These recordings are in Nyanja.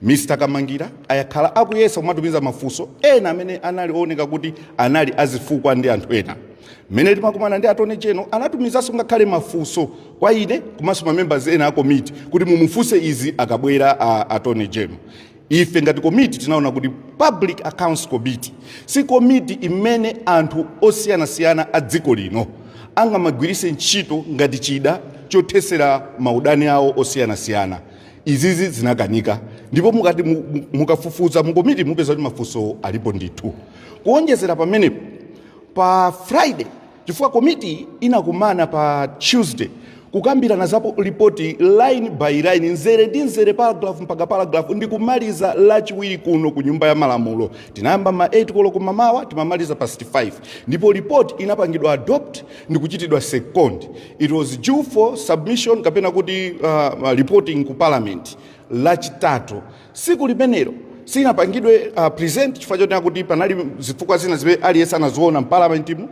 Mr Kamangira ayakhala akuyesa kumatumiza mafunso ena amene anali ooneka kuti anali azifukwa ndi anthu ena. Mmene timakumana ndi attorney general anatumizanso ngakhale mafunso kwa ine komanso mamembers ena a komiti kuti mumufunse izi akabwera a attorney general. Ife ngati komiti tinaona kuti Public Accounts Committee si komiti imene anthu osiyanasiyana a dziko lino angamagwiritse ntchito ngati chida chothetsera maudani awo osiyanasiyana. izizi zinakanika ndipo mukati mu- mu- mukafufuza mu komiti mupeza kuti mafunso alipo ndithu kuonjezera pamenepo pa friday chifukwa komiti inakumana pa tuesday kukambirana za po- lipoti line by line nzere ndi nzere paragraph mpaka paragraph ndi kumaliza lachiwiri kuno ku nyumba ya malamulo tinayamba ma 8 koloko mamawa timamaliza past 5 ndipo lipoti inapangidwa adopt ndi kuchitidwa second It was due for submission kapena kuti uh, uh, reporting ku parliament lachitatu siku limenelo sinapangidwe uh, present chifukwa choti akuti panali zifukwa zina zimene aliyense anaziona mpalamentimu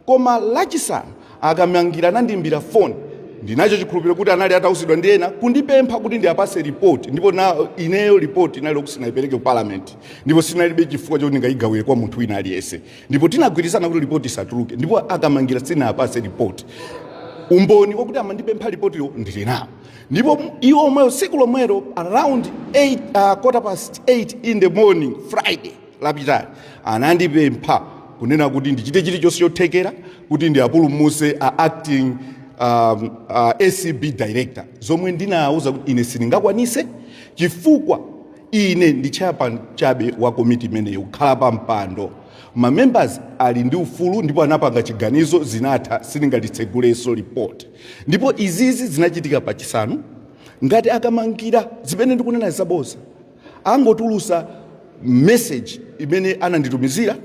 koma lachisanu akamangira anandimbira foni ndinacho chikhulupiriro kuti anali atauzidwa ndi ena kundipempha kuti ndiyapase ripoti ndipo na ineyo ripoti inali yokuti sinayipereke ku parliament ndipo sinalibe chifukwa choti ndingayigawire kwa munthu wina aliyense ndipo tinagwirizana kuti lipoti isatuluke ndipo akamangira sinapase lipoti umboni wakuti amandipempha lipotilo ndili nawo ndipo iwo omwewo tsiku lomwelo around 8, uh, quarter past 8 in the morning friday lapitali anandipempha kunena kuti ndichite chilichonse chothekera kuti ndiapulumuse a acting um, uh, acb director zomwe ndinawuza kuti ine sindingakwanise chifukwa Ine ndi chairman chabe wa komiti imeneyi kukhala pa mpando. Ma members ali ndi ufulu ndipo anapanga chiganizo zinatha sindingatitsegulenso report. Ndipo izizi zinachitika pa chisanu ngati akamangira zimene ndikunena zaboza angotulusa message imene ananditumizira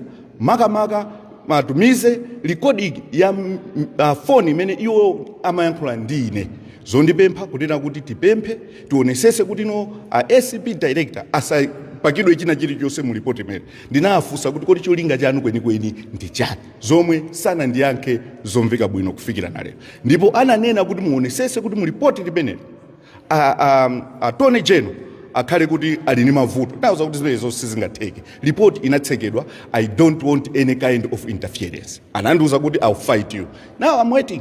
makamaka atumize recording ya uh, phone imene iwo amayankhula ndi ine zondipempha kunena kuti tipemphe tionesese kuti no a acb director asapakidwe china chilichonse mu lipoti mene ndinawafunsa kuti kodi cholinga chanu kwenikweni ndi chani zomwe sanandiyankhe zomveka bwino kufikira na lero ndipo ananena kuti muonesese kuti mu lipoti limeneli a- a- attorney general akhale kuti ali ndi mavuto nauza kuti zimenezo sizingatheke lipoti inatsekedwa i don't want any kind of interference anandiuza kuti I'll fight you now i'm waiting